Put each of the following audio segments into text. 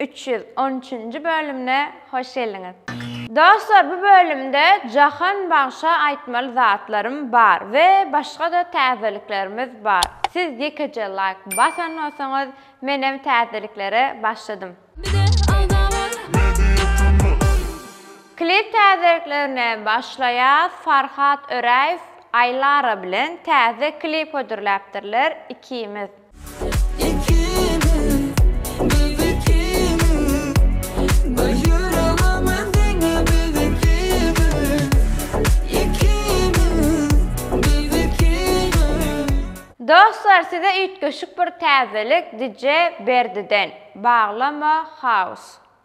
Üç ýüz on üçünji bölümine hoş geldiňiz. Dostlar bu bölümde Jahan bagşa aýtmaly zatlarym bar we başgada täzeliklerimiz bar siz ýekeje laýk basan bolsaňyz menem täzeliklere başladym. Klip täzeliklerine başlaýas Farhat Öräýew Aýlara bilen täze klip hödürläpdirler ikimiz. Dostlar size üýtgeşik bir täzelik DJ Berdiden. Baglama House.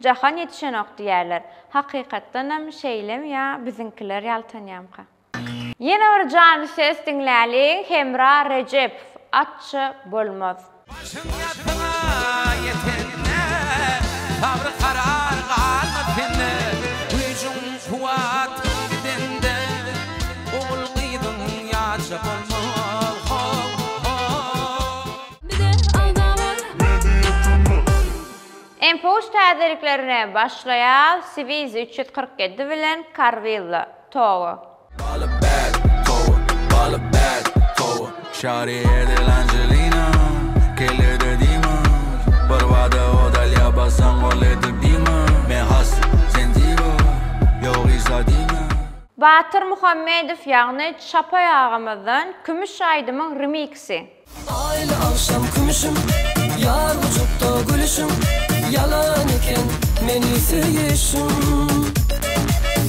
Jahan ýetişenok diýýärler. Hakykatdanam şeýlemi ýa biziňkiler ýaltanýamka? Ýene bir janly ses diňläliň Hemra Rejepow Atça bolmaz. Başyň ýatgyna ýetende, Sabry karar galmaz sende, Güýjüň kuwwatyň gidende, Ogul-gyzyň ýatça bolmaz, ho-ho. Bize agza bol! Inpuş täzeliklerine başlaýar Swiss üç ýüz kyrk ýedi bilen Carvilla, Togo. Baly bad towa baly bad towa Şari edil Angelina Kellede diýmez Birbada odal ýabasaň ol edil diýme Men hassa sen diwa Ýok Isa diýme. Batyr Muhammedow ýagny Çapay agamyzdan Kümüş aýdymyň remiksi. Aýly agşam kümüşim, ýar gujukda gülüşim, ýalan eken meni söýüşiň.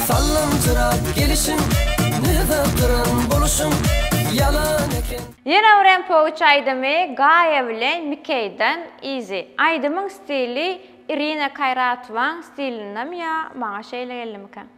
Sallanjyrap gelişiň, nyzagdyran boluşyň, ýalan eken. Ýene birem Poguç aýdymy Gaýa bilen Mikeýden Easy. Aýdymyň stili Irina Kaýratowaň stilindemi ýa maňa şeýle geldimikä?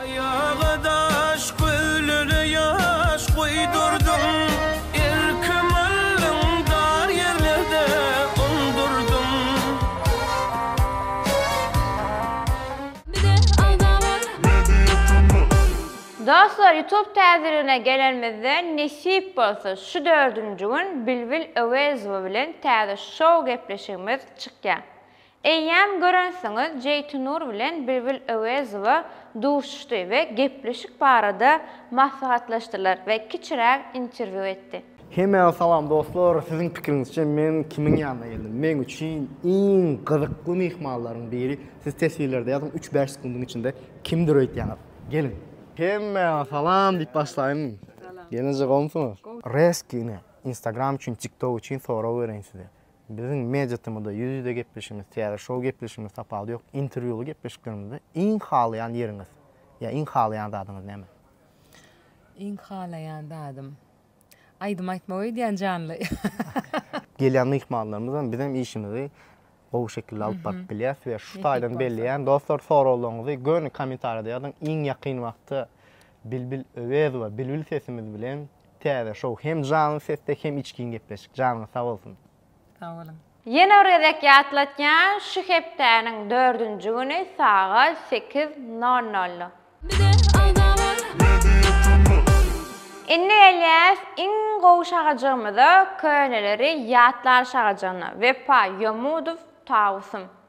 Aýaga daş, göwlere ýaş guýdurdym, Erkim aldyň dar ýerlerde undurdym. Bize alda bar. Dostlar YouTube täzeligine gelenimizde nesip bolsa şu dördünji gün Bilbil Öwezowa bilen täze şou gepleşigimiz çykýar. Eýýäm görensiňiz Jeýtunur bilen Bilbil Öwezowa duşuşdy we gepleşik barada maslahatlaşdylar we kiçiräk interwýu etdi. Hemmäňize salam dostlar, siziň pikiriňizçe men kimiň ýanyna geldim? Meň üçin iň gyzykly myhmanlaryň biri, siz teswirlerde ýazyň üç bäş sekundyň içinde kimdir öýtýäňiz. Geliň. Hemmäňize salam diýip başlaýyn. Gelneje gowumsyňyz? Resgine instagram üçin tiktok üçin sorag bereýin size. Biziň media-temada ýüz-ýüze gepleşigimiz, täze şou gepleşigimiz tapawudy ýok. Interwýuly gepleşiklerimizde iň halaýan ýeriňiz ýa iň halaýan zadyňyz näme? Iň halaýan zadym. Aýdym aýtmak öýdýän janly. Gelýän myhmanlarymyz hem bizem işimizi gowy şekilde alyp baryp bilýäs we şu taýdan belleýän dostlar soraglaryňyzy göni kommentariýada ýazyň iň ýakyn wagtda Bilbil Öwezowa Bilbil sesimiz bilen Täze şow hem janly sesde hem içgin gepleşik janyňyz sag bolsun. Sag boluň. Ýene bir gezek ýatlatýan şu hepdäniň dördünji güni sagat sekiz nol nol. Indi gelýäs iň gowy şagajygymyza köneleri ýatlar şagajygyna Wepa Ýomudow Tawusym.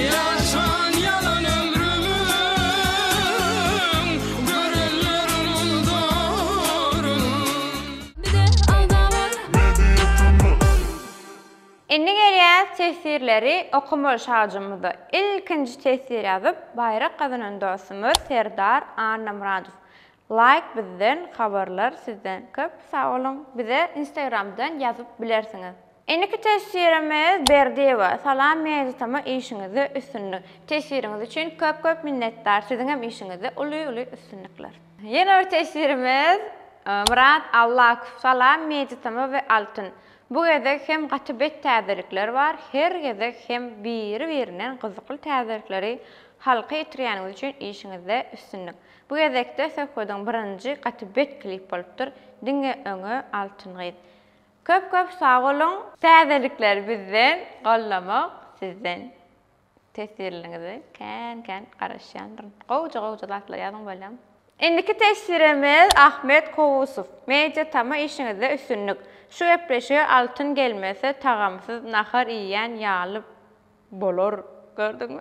Ýaşan ýalan ömrümiň görenlerim ulduryn. Bize agzalar Media Turnus. Indi gelýäs teswirleri okamaly şagjymyza. Ilkinji teswir ýazyp baýrak gazanan dostumyz Serdar Annamyradow. Laýk bizden, habarlar sizden. Köp sag boluň. Bize Instagramdan ýazyp bilersiňiz. Indiki teswirimiz Berdiýewa Salam Meýditama işiňizde üstünlik. Teswiriňiz üçin köp köp minnetdar siziňem işiňizde uly uly üstünlikler. Ýene bir teswirimiz Myrat Allakow Salam Meýditama we Altyn. Bu gezek hem gaty bet täzelikler bar her gezek hem biri birinden gyzykly täzelikleri halka ýetirýäniňiz üçin işiňizde üstünlik. Bu gezekde söhbediň birinji gaty bet klip bolupdyr diňe öňe Altyn gyz. Köp köp sag boluň. Täzelikleri bizden, goldamak sizden. Teswirleriňize kän kän garaşýandyryn. Gowja gowja zatlar ýazyň bolýam. Indiki teswirimiz Ahmet Kowusow. Media tama işiňizde üstünlik. Şu gepleşige altyn gelmese tagamsyz nahar iýýän ýaly. Bolar, gördüňmi?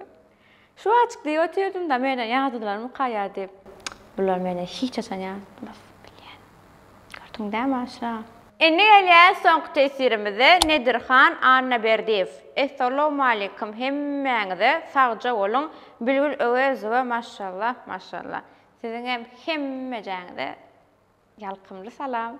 Şu wajyk diýip otyrdym-da, menden ýazydylarmy kaýa diýip. Çyk, bular menden hiç haçan ýazylmaz, bilýän. Gördüň dämi, aşna? Indi gelýäs soňky tesirimize, Nedirhan Annaberdiýew. Essalawmaleýkim hemmäňize, sagja boluň, Bilgül Öwezowa maşşallah, maşşallah. Siziňem hemmejäňize ýalkymly salam.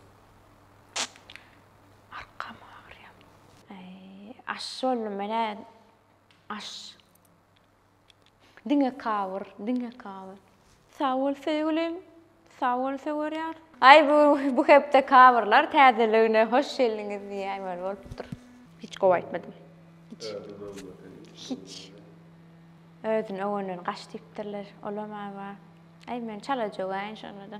Arkam agyrýar. Äý, aş boldum men-ä. Aş. Diňe kawyr, diňe kawyr. Sag bol söýgülim. Sag bol söwer ýar. Aý bu bu hepde kawyrlar täzeligine hoş geldiňiz diýýän weli bolupdyr. Hiç gowy aýtmadym. Hiç. Özüňi öwme sen hiç. Hiç. Özüni öwenden gaç diýipdirler. Olam-a bar. Aý men çala jögäýin şonda-da.